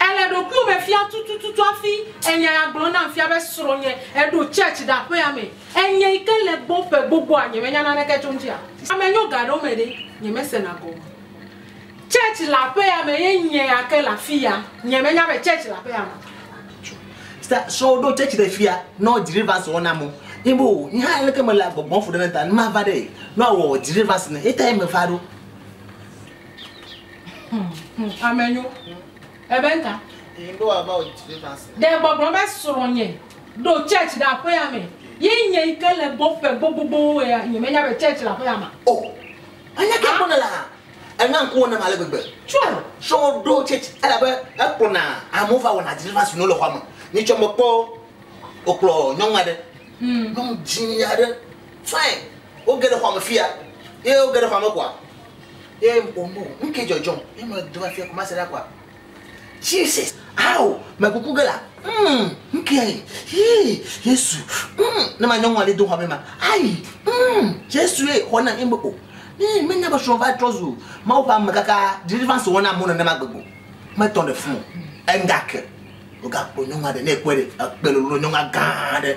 Èle ɖokuiwò me fiam tutututu hafi ènya ya gblɔm nam fia be srɔ̃nye eɖo church ɖe aƒea me. Enye yi ke le gbɔ ƒe gbogboa nyemenya naneke tso eŋuti a? Ame nyo gaɖewo me ɖe nyemesena gɔme o. Church le aƒea me ye nye ya ke le afiya. Nyemenya be church le aƒea me o. Sister, srɔ̃wò ɖo church ɖe fia nɔ deliverance wɔm nam o. Nye be o, nye hã aleke mele agbɔgbɔm ƒo ɖe ne ta ne mava ɖee, nɔ awɔ deliverance ne ye tae meva ɖo. Ame nyo. Ebe nka. You know about Jesus. Ɖe gbɔgblɔ be srɔ̃nye ɖo church ɖe aƒea me. Ye nye yi ke le gbɔ ƒe gbogbowo ya nye menya be church le aƒea ma. O. Oh. Anya ke kpɔna la. Ena ŋkuwo nam ale gbegbe. Tsɔe. Srɔ̃wò ɖo church elabe ekplɔna amewo va wɔna deliverance no le xɔa me. Nye tsɔ me kpɔ wokplɔ nyɔnu aɖe. Hmm. Nyɔnu dzĩ aɖe. Fine. Woge ɖe xɔa me fia. Ye woge ɖe xɔa me koa. Ye wò bu, nu ke dzɔdzɔm, ye me dona fia kuma se la kua. Jesus, ao, me kuku ge la, mm, nu ke ayi, hii, Yesu, mm, ne ma nyɔnua le do hame ma, ayi, mm, Yesu ye, xɔ na, ye me o. Ne me nya be srɔ̃ va trɔ zu, ma wo va me kaka, deliverance wɔna amewo nene ma gbegbo. Me tɔn de fun, enga ke, oga kpo nyɔnua de, ne ekwe de, ekpe lolo nyɔnua gã de.